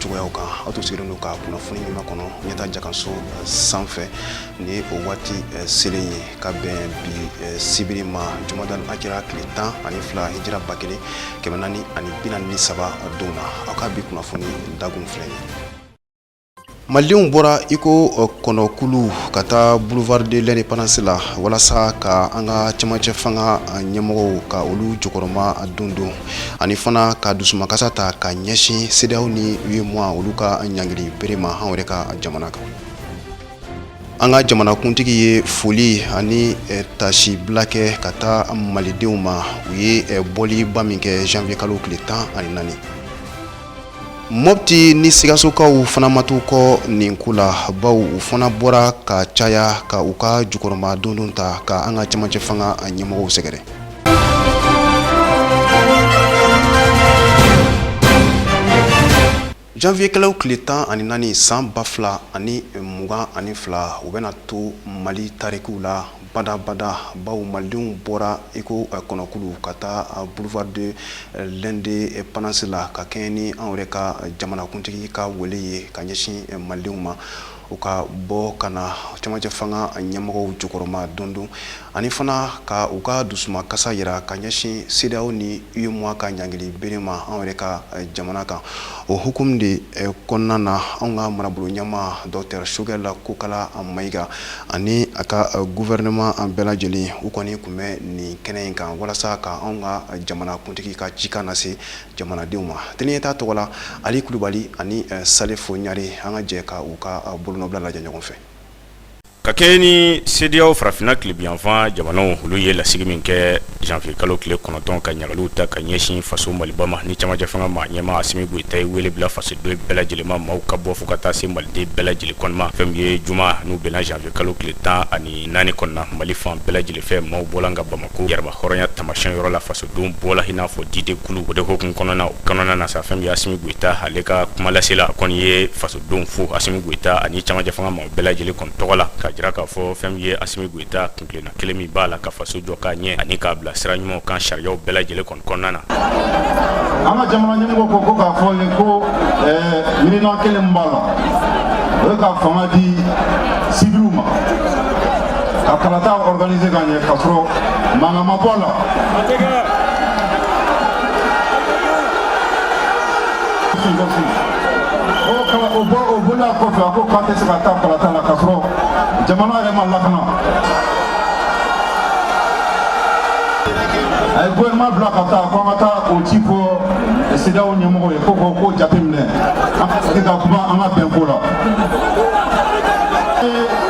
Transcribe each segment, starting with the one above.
cogoyaw kan aw to sigilen don ka kunnafoni ɲuman kɔnɔ ɲɛta jakanso eh, sanfɛ ni o waati eh, selen ye ka bɛn bi eh, sibiri ma jumadal akira tile tan ani fila hijira ba kelen kɛmɛ naani ani bi naani ni saba don na aw ka bi kunnafoni dagun filɛ ye malidenw bɔra iko kɔnɔkulu ka taa boulevard de l'indépendance la walasa ka an ka cɛmancɛ fanga ɲɛmɔgɔw ka olu jukɔrɔma don don ani fana ka dusumakasa ta ka ɲɛsin CEDEAO ni UEMOA olu ka ɲangili bere ma anw yɛrɛ ka jamana kan an ka jamanakuntigi ye foli ani eh, tasi bila kɛ ka taa malidenw ma u ye eh, bɔliba min kɛ janvier kalo tile tan ani naani mɔpti ni sigasokaw fana ma to kɔ nin ko la baw u fana bɔra ka caya ka u ka jukɔrɔma dondon ta ka an ka camancɛ fanga ɲɛmɔgɔw sɛgɛrɛ Janvier kalo tile tan ani naani san ba fila ani mugan ani fila o bɛna to mali tarikiw la badabada baw malidenw bɔra iko kɔnɔkulu ka taa boulevard de l'indépendance la ka kɛɲɛ ni anw yɛrɛ ka jamanakuntigi ka wele ye ka ɲɛsin malidenw ma. u ka bɔ ka na cɛmancɛ fanga ɲɛmɔgɔw jukɔrɔma don don ani fana ka u ka dusuma kasa yira ka ɲɛsin CEDEAO ni UEMOA ka ɲangili bere ma anw yɛrɛ ka eh, jamana kan o hukumu de eh, kɔnɔna na anw ka marabolo ɲɛma dɔktɛr Shogɛl Kokala Mayiga ani a ka eh, guvɛrɛnɛman bɛɛ lajɛlen u kɔni tun bɛ nin kɛnɛ in kan walasa ka anw ka jamana kuntigi ka cikan lase jamanadenw ma tele ɲɛta tɔgɔ la ali kulubali ani eh, salifo ɲare an ka jɛ ka u ka eh, bolonɔbila lajɛ ɲɔgɔn fɛ ka kɛɲɛ ni CEDEAO farafinna tilebiyanfan jamanaw olu ye lasigi min kɛ janvier kalo tile kɔnɔntɔn ka ɲangiliw ta ka ɲɛsin faso maliba ma ni camancɛ fanga ma ɲɛma asimi goyita ye wele bila fasoden bɛɛ lajɛlen ma maaw ka bɔ fo ka taa se maliden bɛɛ lajɛlen kɔni ma fɛn min ye juma n'o bɛnna janvier kalo tile tan ani naani kɔnɔna mali fan bɛɛ lajɛlen fɛ maaw bɔla nka bamako yɛrɛma hɔrɔnya tamasiyɛn yɔrɔ la faso denw bɔla in'a fɔ didenkulu o de hukumu kɔnɔna o kɔnɔna na sa fɛn min ye asimi goyita ale ka kumalasela kɔni ye fasodenw fo asimi goyita ani camancɛ fanga maaw bɛɛ lajɛlen kɔni tɔgɔ la k'a jira k'a fɔ fɛn min ye asimi goyita kuntilenna kelen min b'a la ka faso jɔ k'a ɲɛ ani k'a bila sira ɲuman kan sariyaw bɛɛ lajɛlen kɔnɔ kɔnɔna na an ka jamana ɲɛmɔgɔ ko ko k'a fɔ ye ko miirina kelen b'a la o ye ka fanga di sibiliw ma ka kalata organiser ka ɲɛ k'a sɔrɔ mankan ma bɔ a la o bɔ o bɔla kɔfɛ a ko k'a tɛ se ka taa kalata la k'a sɔrɔ jamana yɛrɛ ma lakana a ye gouvernement bila ka taa ko an ka taa o ci fɔ CEDEAO ɲɛmɔgɔw ye ko ko ko jateminɛ an ka sigi ka kuma an ka bɛn ko la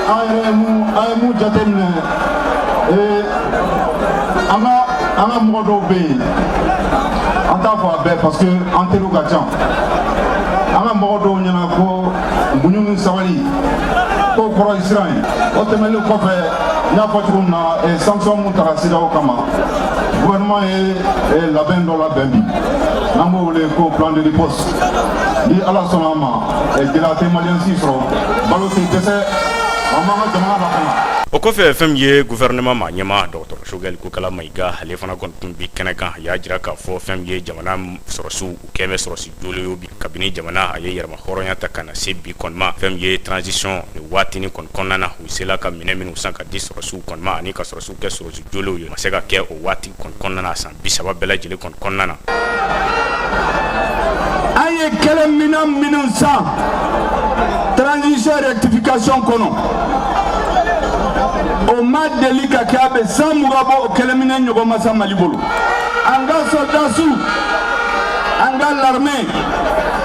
an yɛrɛ ye mun an ye mun jateminɛ ee an ka an ka mɔgɔ dɔw bɛ yen an t'a fɔ a bɛɛ parce que an teriw ka ca an ka mɔgɔ dɔw ɲɛ na ko muɲu ni sabali k'o kɔrɔ ye siran ye o tɛmɛnen kɔfɛ n y'a fɔ cogo min na eh, sanction mun taga CEDEAO kama gouvernement ye eh, labɛn dɔ labɛn bi n'an b'o wele ko plan de riposte ni ala sɔnna a ma Gɛlɛya tɛ malien si sɔrɔ balo tɛ dɛsɛ an b'an ka jamana lakana. O kɔfɛ fɛn min ye gouvernement maa ɲɛmaa dɔgɔtɔrɔ Choguel Kokala Mayiga ale fana kɔni tun bɛ kɛnɛ kan, a y'a jira k'a fɔ fɛn min ye jamana sɔrɔsiw u kɛn bɛ sɔrɔsi jolenw ye bi kabini jamana a ye yɛrɛmahɔrɔnya ta ka na se bi kɔni ma, fɛn min ye transition nin waatinin kɔni kɔnɔna na, u sela ka minɛn minnu san ka di sɔrɔsiw kɔni ma ani ka sɔrɔsiw kɛ sɔrɔsi jolenw ye, o ma se ka kɛ o waati kɔni kɔnɔna na san bi saba bɛɛ lajɛlen kɔni kɔnɔna na an ye kɛlɛminɛn minnu san transition rectification kɔnɔ o ma deli ka kɛ a bɛ san mugan bɔ o kɛlɛminɛn ɲɔgɔn ma san Mali bolo an ka sɔrɔdasiw an ka larime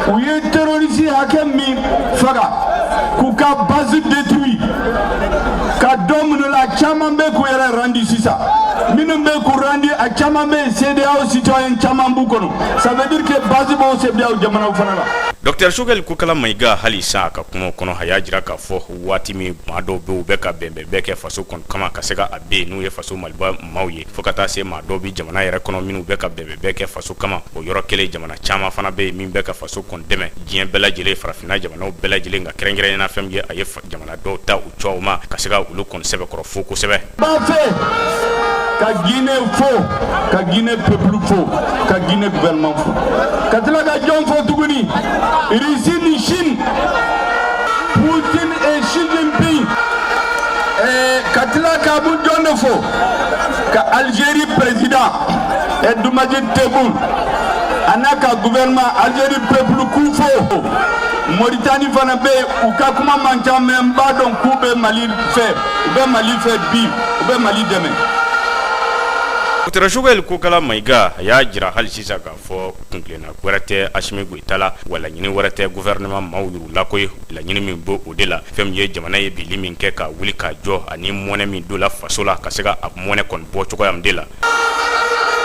u ye terorisi hakɛ min faga k'u ka base détruit ka dɔ minɛ u la caman bɛ k'u yɛrɛ randi sisan minnu bɛ k'u randi a caman bɛ yen CEDEAO citoyen caman b'u kɔnɔ ça veut dire que base b'o CEDEAO jamanaw fana la. Docteur Choguel Kokala Mayiga hali sa a ka kuma kɔnɔ a y'a jira k'a fɔ waati min maa dɔw bɛ u bɛ ka bɛnbɛn bɛɛ kɛ faso kɔni kama ka se ka a bin n'u ye faso maliba maaw ye fo ka taa se maa dɔw bɛ jamana yɛrɛ kɔnɔ minnu bɛ ka bɛnbɛn bɛɛ kɛ faso kama o yɔrɔ kelen jamana caman fana bɛ yen min bɛ ka faso kɔni dɛmɛ diɲɛ bɛɛ lajɛlen farafinna jamanaw bɛɛ lajɛlen ka kɛrɛnkɛrɛnyana fɛn min ye a ye jamana dɔw ta u cɛma ka se ka olu kɔni sɛbɛkɔrɔ fo kosɛbɛ ka Guinée fo ka Guinée peuple fo ka Guinée gouvernement fo ka tila ka jɔn fo tuguni Russie ni Chine Poutine et Xi Jinping eh, ka tila ka bu jɔn de fo ka Algérie président Abdelmadjid Tebboune a n'a ka gouvernement Algérie peuple k'u fo Mauritanie fana bɛ yen u ka kuma man ca mais n b'a dɔn k'u bɛ mali fɛ u bɛ mali fɛ bi u bɛ mali dɛmɛ Docteur Choguel Kokala Mayiga a y'a jira hali sisan k'a fɔ kuntilenna wɛrɛ tɛ Asimi Goyita la wa laɲini wɛrɛ tɛ gouvernement maaw yɛrɛ la koyi laɲini min bɛ o de la fɛn min ye jamana ye binli min kɛ ka wuli ka jɔ ani mɔnɛ min donla faso la ka se ka a mɔnɛ kɔni bɔ cogoya min de la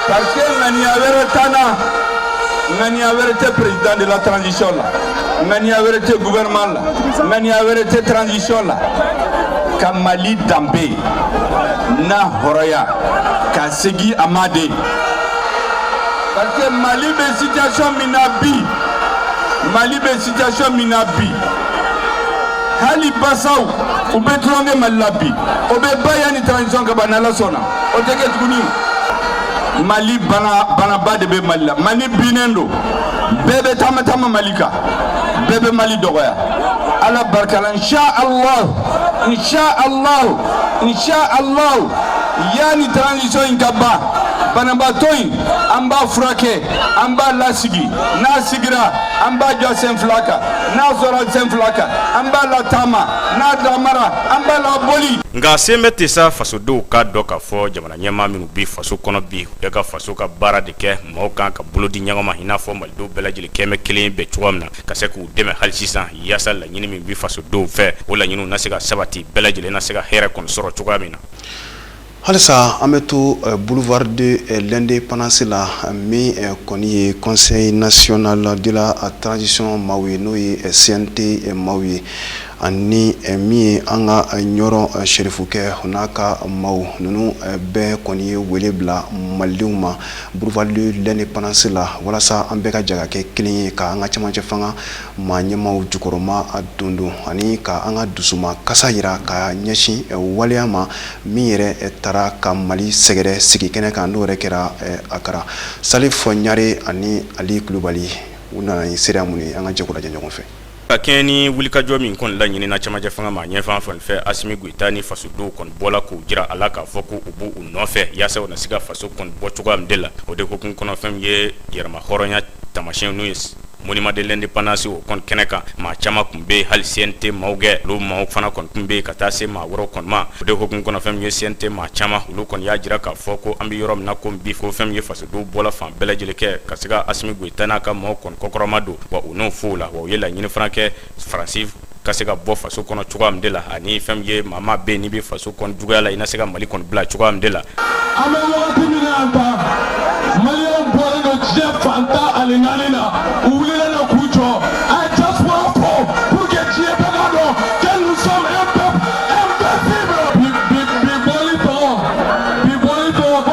Parce que ŋaniya wɛrɛ t'an na ŋaniya wɛrɛ tɛ président de la transition la ŋaniya wɛrɛ tɛ gouvernement la ŋaniya wɛrɛ tɛ transition la ka mali danbe n'a hɔrɔnya ka segin a ma de parce que mali bɛ situation min na bi mali bɛ situation min na bi hali basaw u bɛ tulonkɛ mali la bi o bɛ ban yanni transition ka ban n'ala sɔnna o tɛ kɛ tuguni mali bana banaba de bɛ mali la mali binnen don bɛɛ bɛ taama taama mali kan bɛɛ bɛ mali dɔgɔya ala barika la insha allah insha allah insha allah yanni transition in ka ban banabaatɔ in an b'a furakɛ an b'a lasigi n'a sigira an b'a jɔ sen fila kan n'a jɔra sen fila kan an b'a lataama n'a taamara an b'a laboli nka sen bɛ ten sa faso denw k'a dɔn k'a fɔ jamana ɲɛmaa minnu bɛ faso kɔnɔ bi u bɛ ka faso ka baara de kɛ maaw kan ka bolo di ɲɔgɔn ma i n'a fɔ malidenw bɛɛ lajɛlen kɛmɛ kelen bɛ cogoya min na ka se k'u dɛmɛ hali sisan yaasa laɲini min bɛ fasodenw fɛ o laɲiniw na se ka sabati bɛɛ lajɛlen na se ka hɛrɛ kɔni sɔrɔ cogoya min na halisa an bɛ to boulevard de l'indépendance la min kɔni ye conseil national de la transition maaw ye n'o ye CNT maaw ye ani min ye an ka Ɲɔrɔ serifukɛ n'a ka maaw ninnu bɛɛ kɔni ye wele bila malidenw ma boulevard de l'indépendance la walasa an bɛɛ ka jɛ ka kɛ kelen ye ka an ka cɛmancɛ fanga maa ɲɛmaaw jukɔrɔma dondon ani ka an ka dusumakasi yira ka ɲɛsin waleya ma min yɛrɛ taara ka mali sɛgɛrɛ sigi kɛnɛ kan n'o yɛrɛ kɛra Akara Salifu Ɲare ani ali kulubali u nana ni seereya min ye an ka jɛ k'o lajɛ ɲɔgɔn fɛ Ka kɛɲɛ ni wulikajɔ min kɔni laɲinina cɛmancɛ fanga ma ɲɛfan fan fɛ Asimi Goyita ni fasodenw kɔni bɔla k'u jira a la k'a fɔ ko u b'u nɔfɛ yaasa u na se ka faso kɔni bɔ cogoya min de la, o de hukumu kɔnɔ fɛn min ye yɛrɛmahɔrɔnya taamasiyɛn n'o ye monument de l'indépendance o kɔni kɛnɛ kan, maa caman kun bɛ yen hali CNT maaw kɛ olu maaw fana kɔni kun bɛ yen ka taa se maa wɛrɛw kɔni ma, o de hukumu kɔnɔ fɛn min ye CNT maa caman olu kɔni y'a jira k'a fɔ ko an bɛ yɔrɔ min na komi bi ko fɛn min ye faso olu bɔla fan bɛɛ lajɛlen kɛ ka se ka Asimi Goyita n'a ka maaw kɔni kɔkɔrɔma don wa u n'o fɔw la wa u ye laɲini fana kɛ Faransi ka se ka bɔ faso kɔnɔ cogoya min de la ani fɛn min ye maa maa bɛ yen n'i bɛ faso kɔni juguya la i na se ka Mali kɔni bila cogoya min de la. An bɛ wagati min na yan tan Maliyɛnw bɔlen don diɲɛ fan tan ani naani na u wulilen don k'u jɔ a ye diaspora fo pour que diɲɛ bɛɛ k'a dɔn que nous sommes un peuple invincible bi bi bi bɔli tɔgɔ bi bɔli tɔgɔ ko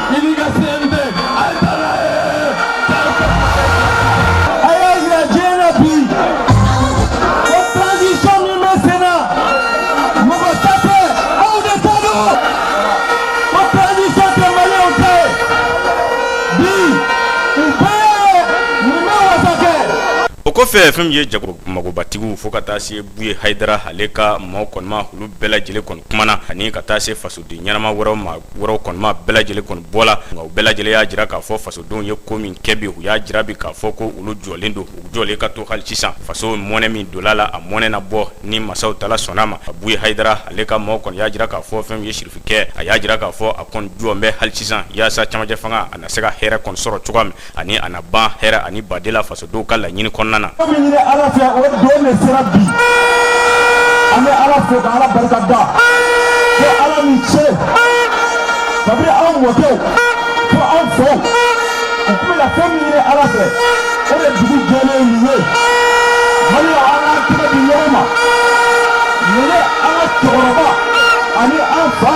O kɔfɛ fɛn min ye jago magobatigiw fo ka taa se Buye Hayidara ale ka maaw kɔni ma olu bɛɛ lajɛlen kɔni kumana ani ka taa se faso den ɲɛnama wɛrɛw maa wɛrɛw kɔni ma bɛɛ lajɛlen kɔni bɔla nka u bɛɛ lajɛlen y'a jira k'a fɔ fasodenw ye ko min kɛ bi u y'a jira bi k'a fɔ ko olu jɔlen don u jɔlen ka to hali sisan faso mɔnɛ min donla a la a mɔnɛ na bɔ ni masa wa taala sɔnna a ma a Buye Hayidara ale ka maaw kɔni y'a jira k'a fɔ fɛn min ye sirifikɛ a y'a jira k'a fɔ a kɔni jɔlen bɛ hali sisan yaasa camancɛ fanga a na se ka hɛrɛ kɔni sɔrɔ cogoya min ani a na ban hɛrɛ ani badela fasodenw ka laɲini kɔnɔna na fɛn min ɲini ala fɛ o don de sera bi an bɛ ala fo ka ala barika da ko ala ni ce kabini anw mɔkɛw fo anw faw u tun bɛna fɛn min ɲini ala fɛ o de dugu jɛlen nin ye mali la an k'an tɛgɛ di ɲɔgɔn ma nin ye an ka cɛkɔrɔba ani an fa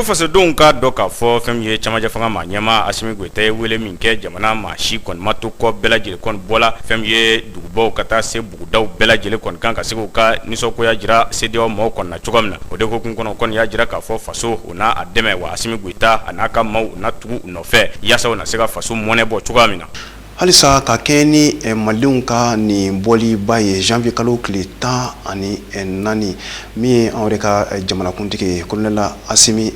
Fo fasodenw k'a dɔn k'a fɔ fɛn min ye camancɛ fanga maa ɲɛmaa Asimi Goyita ye wele min kɛ jamana maa si kɔni ma to kɔ bɛɛ lajɛlen kɔni bɔla fɛn min ye dugubaw ka taa se bugudaw bɛɛ lajɛlen kɔni kan ka se k'u ka nisɔngoya jira CEDEAO maaw kɔni na cogo min na o de hukumu kɔnɔ kɔni y'a jira k'a fɔ faso u n'a a dɛmɛ wa Asimi Goyita a n'a ka maaw u na tugu u nɔfɛ yaasa u na se ka faso mɔnɛ bɔ cogoya min na. Halisa ka kɛɲɛ ni eh, Malidenw ka nin bɔliba ye janvier kalo tile tan ani eh, naani min ye anw yɛrɛ ka eh, jamanakuntigi ye kolonɛli Asimi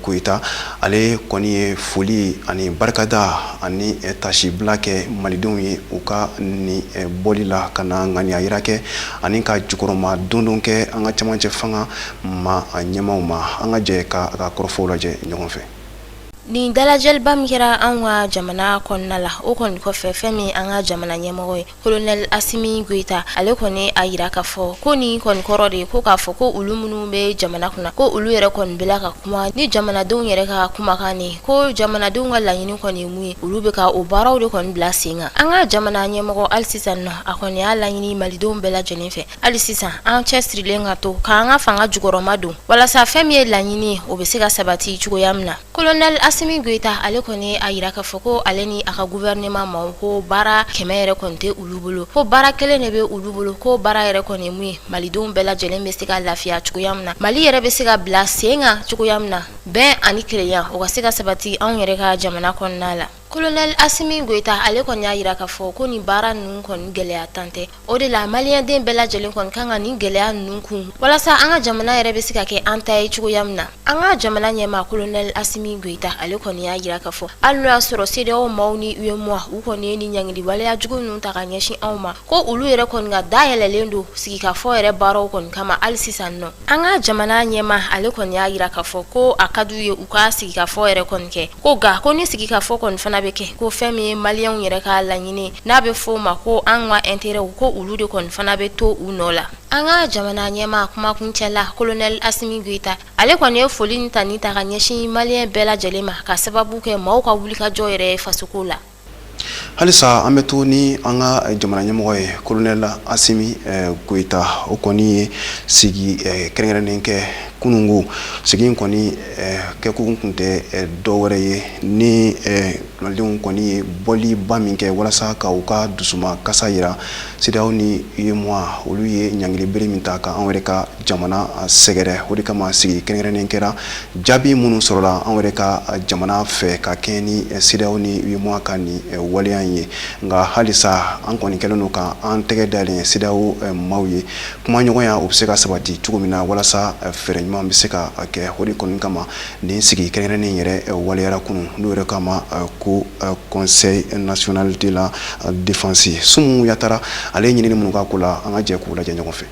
Goyita ale kɔni ye foli ani barikada ani tasibila kɛ Malidenw ye u ka nin bɔli la ka na ŋaniya yira kɛ ani ka jukɔrɔma dondon kɛ an ka camancɛ fanga Maa ɲɛmaaw ma an ka jɛ ka a ka kɔrɔfɔw lajɛ ɲɔgɔn fɛ nin dalajɛliba min kɛra an ka jamana kɔnɔna la o kɔni kɔfɛ fɛn min an ka jamana ɲɛmɔgɔ ye kolonɛli asimi goyita ale kɔni a yira k'a fɔ ko nin kɔni kɔrɔ de ye ko k'a fɔ ko olu minnu bɛ jamana kunna ko olu yɛrɛ kɔni bɛ la ka kuma ni jamanadenw yɛrɛ ka kumakan nin ko jamanadenw ka laɲini kɔni ye mun ye olu bɛ ka o baaraw de kɔni bila sen kan an ka jamana ɲɛmɔgɔ hali sisan nɔ a kɔni y'a laɲini malidenw bɛɛ lajɛlen fɛ hali sisan an cɛ sirilen ka to k'an ka fanga jukɔrɔma don walasa fɛn min ye laɲini o bɛ se ka sabati cogoya min na kolonɛli asimi goyita ale kɔni a yira k'a fɔ ko ale ni a ka guvɛrɛnɛman maaw ko baara kɛmɛ yɛrɛ kɔni tɛ olu bolo ko baara kelen de bɛ olu bolo ko baara yɛrɛ kɔni mun ye malidenw bɛɛ lajɛlen bɛ se ka lafiya cogoya min na mali yɛrɛ bɛ se ka bila sen kan cogoya min na bɛn ani kelenya o ka se ka sabati anw yɛrɛ ka jamana kɔnɔna la kolonɛli asimi goyita ale kɔni y'a yira k'a fɔ ko nin baara ninnu kɔni gɛlɛya tan tɛ o de la maliyɛnden bɛɛ lajɛlen kɔni kan ka nin gɛlɛya ninnu kun walasa an ka jamana yɛrɛ bɛ se ka kɛ an ta ye cogoya min na an ka jamana ɲɛmaa kolonɛli asimi goyita ale kɔni y'a yira k'a fɔ hali n'o y'a sɔrɔ sedeyaw maaw ni uemoa u kɔni ye nin ɲangili waleya jugu ninnu ta ka ɲɛsin anw ma ko olu yɛrɛ kɔni ka da yɛlɛlen don sigikafɔ yɛrɛ baaraw kɔni kama hali sisan nɔ an ka jamana ɲɛmaa ale kɔni y'a yira k'a fɔ ko a ka d'u ye u ka sigikafɔ yɛrɛ kɔni kɛ ko nka ko ni sigikafɔ kɔni fana bɛ kɛ ko fɛn min ye maliyɛnw yɛrɛ ka laɲini n'a bɛ fɔ o ma ko an ka intérêt ko olu de kɔni fana bɛ to u nɔ la an ka jamana ɲɛmaa kumakuncɛ la colonel asimi goyita ale kɔni ye foli ni tani ta ka ɲɛsin maliyɛn bɛɛ lajɛlen ma ka sababu kɛ maaw ka wulikajɔ yɛrɛ ye fasoko la halisa an bɛ to ni an ka jamana ɲɛmɔgɔ ye kolonɛli asimi eh, goyita o kɔni ye sigi eh, kɛrɛnkɛrɛnnen kɛ kunungo sigi in kɔni eh, kɛkun kun tɛ dɔ wɛrɛ ye ni malidenw kɔni ye bɔliba min kɛ walasa ka u ka dusuma kasa yira sedeyaw ni uemoa olu ye ɲangili bere min ta ka an yɛrɛ ka jamana sɛgɛrɛ o de kama sigi kɛrɛnkɛrɛnnen kɛra jaabi minnu sɔrɔla an yɛrɛ ka jamana fɛ ka kɛɲɛ ni sedeyaw ni uemoa ka nin waleya in ye nka halisa an kɔni kɛlen don ka an tɛgɛ dalen sedeyaw maaw ye kumaɲɔgɔnya o bɛ se ka sabati cogo min na walasa fɛɛrɛ ɲuman bɛ se ka kɛ o de kɔni kama nin sigi kɛrɛnkɛrɛnnen yɛrɛ waleyara kunun n'o yɛrɛ kama ko conseil national de la défense sumu yatara ale ɲinini minnu k'a ko la an ka jɛ k'u lajɛ ɲɔgɔn fɛ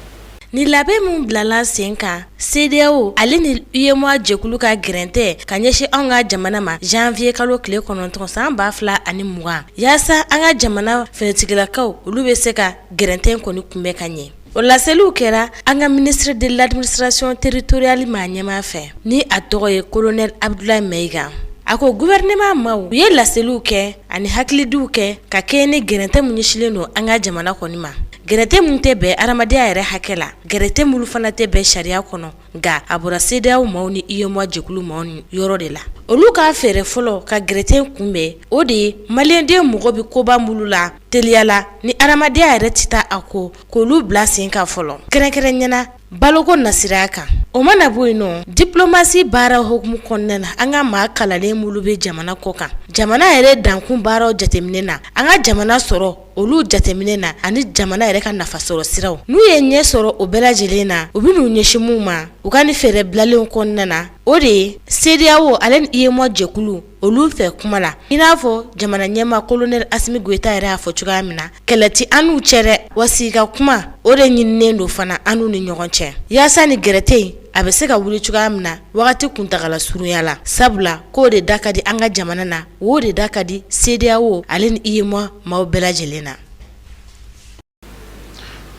Ni labɛn min bilala sen kan sedeyaw ale ni uemoa jɛkulu ka gɛrɛntɛ ka ɲɛsin an ka jamana ma janviye kalo tile kɔnɔntɔn san ba fila ani mugan yaasa an ka jamana finitigilakaw olu bɛ se ka gɛrɛntɛ in kɔni kunbɛn ka ɲɛ o laseliw kɛra an ka ministre de l'administration territoriale maa ɲɛmaa fɛ ni a tɔgɔ ye kolonɛli abdulayi mayiga a ko guvɛrɛnɛman maaw u ye laseliw kɛ ani hakilidiw kɛ ka kɛɲɛ ni gɛrɛntɛ min ɲɛsilen don an ka jamana kɔni ma Gɛrɛntɛ min tɛ bɛn adamadenya yɛrɛ hakɛ la gɛrɛntɛ minnu fana tɛ bɛn sariya kɔnɔ nka a bɔra CEDEAO maaw ni UEMOA jɛkulu maaw ni yɔrɔ de la olu ka fɛɛrɛ fɔlɔ ka gɛrɛntɛ kunbɛn o de ye maliyɛnden mago bɛ koba minnu la teliya la ni adamadenyaya yɛrɛ tɛ taa a kɔ k'olu bila sen kan fɔlɔ kɛrɛnkɛrɛnnenya la Baloko nasiraya kan o mana bɔ yen nɔ diplomasi baara hukumu kɔnɔna na an ka maa kalanlen minnu bɛ jamana kɔ kan jamana yɛrɛ dankun baaraw jateminɛ na an ka jamana sɔrɔ olu jateminɛ na ani jamana yɛrɛ ka nafa sɔrɔ siraw n'u ye ɲɛ sɔrɔ o bɛɛ lajɛlen na u bɛn'u ɲɛsin min ma u ka nin fɛɛrɛ bilalenw kɔnɔna na o de ye CEDEAO ale ni UEMOA jɛkulu olu fɛ kuma la i n'a fɔ jamana ɲɛmaa kolonɛli Asimi Goyita yɛrɛ y'a fɔ cogoya min na kɛlɛ tɛ an n'u cɛ dɛ wa sigi ka kuma o de ɲininen don fana an n'u ni ɲɔgɔn cɛ yaasa nin gɛrɛntɛ in a bɛ se ka wuli cogoya min na wagati kuntagala surunya la sabula k'o de da ka di an ka jamana na o de da ka di CEDEAO ale ni UEMOA maaw bɛɛ lajɛlen na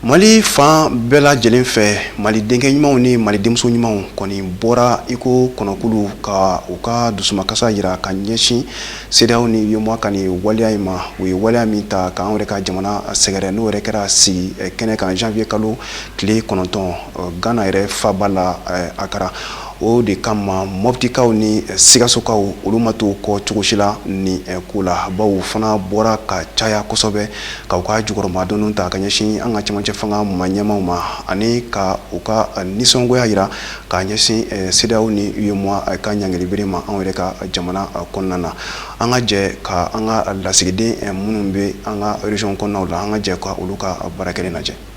mali fan bɛɛ lajɛlen fɛ mali denkɛ ɲumanw ni mali denmuso ɲumanw kɔni bɔra iko kɔnɔkulu ka u ka dusumakasa yira ka ɲɛsin CEDEAO ni UEMOA ka nin waleya in ma u ye waleya min ta k'an yɛrɛ ka jamana sɛgɛrɛ n'o yɛrɛ kɛra sigi kɛnɛ kan janvier kalo tile kɔnɔntɔn Ghana yɛrɛ faaba la Akara O de kama Mɔpitikaw ni Sikasokaw olu ma to kɔ cogo si la ni eh, ko la baw fana bɔra ka caya kosɛbɛ ka u ka jukɔrɔmadon ta ka ɲɛsin an ka cɛmancɛ fanga maa ɲɛmaaw ma ani ka u ka eh, nisɔngoya yira ka ɲɛsin eh, CEDEAO ni UEMOA ka ɲangilibere ma anw yɛrɛ ka jamana kɔnɔna na an ka jɛ ka an ka lasigiden minnu bɛ an ka région kɔnɔnaw la an ka jɛ ka olu ka baara kɛlen lajɛ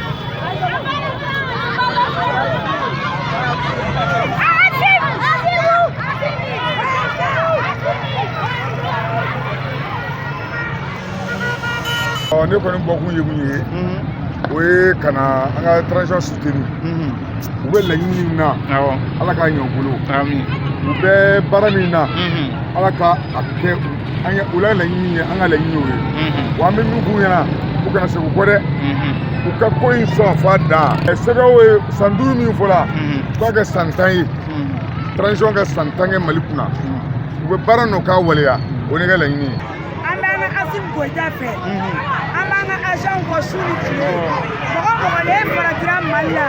ne kɔni bɔkun ye mun ye o ye ka na an ka transition soutenir u bɛ laɲini min na ala k'a ɲɛ u bolo u bɛ baara min na ala ka a kɛ an u la laɲini ye an ka laɲini ye mhm. wa an bɛ min f'u ɲɛna u kana segin kɔ dɛ mhm. u ka ko in sɔn f'a dan CEDEAO ye san duuru min fɔla mhm. u k'a kɛ san tan ye transition ka san tan kɛ mali kunna u bɛ baara nɔ k'a waleya o ne ka laɲini ye an b'an ka Asimi Goyita fɛ an b'an ka Asimi kɔ su ni tile mɔgɔ mɔgɔ ne farajira mali la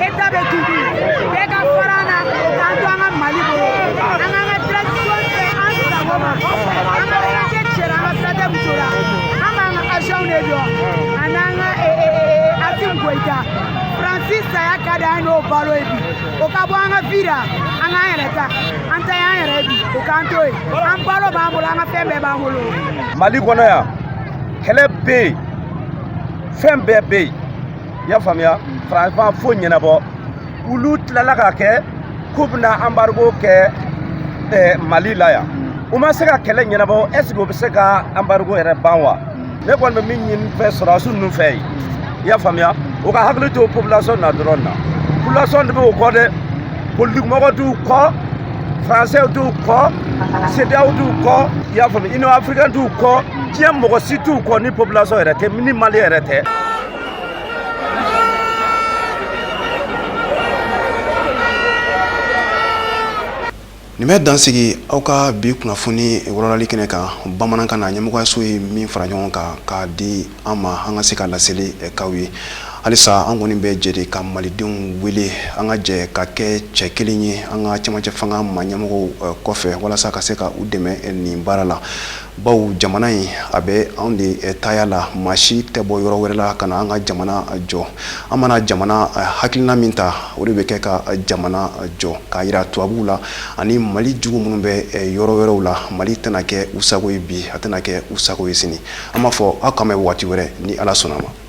e ta bɛ tugu bɛɛ ka fara an na k'an to an ka mali bolo an k'an ka transition kɛ an sago ma an ka sirate cɛra an ka sirate muso la an b'an ka avion de jɔ a n'an ka Asimi Goyita faransi saya ka di an n'o balo ye bi o ka bɔ an ka vie la an k'an yɛrɛ ta an ta y'an yɛrɛ bi o k'an to yen an balo b'an bolo an ka fɛn bɛɛ b'an bolo mali kɔnɔ yan kɛlɛ bɛ yen fɛn bɛɛ bɛ yen i y'a faamuya faransi ma foyi ɲɛnabɔ olu tilala k'a kɛ k'u bɛna anbarigo kɛ eh, mali la yan u ma se ka kɛlɛ ɲɛnabɔ ɛseke u bɛ se ka anbarigo yɛrɛ ban wa ne kɔni bɛ min ɲini fɛ sɔrɔdasi ninnu fɛ yen i y'a faamuya u ka hakili to population na dɔrɔn na population de bɛ u kɔ dɛ politikimɔgɔ t'u kɔ français t'u kɔ sedeyaw t'u kɔ i y'a faamu union africaine t'u kɔ diɲɛ mɔgɔ si t'u kɔ ni population yɛrɛ tɛ ni mali yɛrɛ tɛ nin bɛ dansigi aw ka bi kunnafoni walawalali kɛnɛ kan bamanankan na ɲɛmɔgɔyaso ye min fara ɲɔgɔn kan k'a di an ma an ka se ka laseli k'aw ye halisa an kɔni bɛ jɛ de ka malidenw wele an ka jɛ ka kɛ cɛ kelen ye an ka cɛmancɛ fanga ma ɲɛmɔgɔw kɔfɛ walasa ka se ka u dɛmɛ nin baara la Bawo jamana in a bɛ anw de taya la maa si tɛ bɔ yɔrɔ wɛrɛ la ka na an ka jamana jɔ an mana jamana hakilina min ta o de bɛ kɛ ka jamana jɔ k'a jira tubabuw la ani mali jugu minnu bɛ yɔrɔ wɛrɛw la mali tɛna kɛ u sago ye bi a tɛna kɛ u sago ye sini an b'a fɔ aw k'an bɛn waati wɛrɛ ni ala sɔnna a ma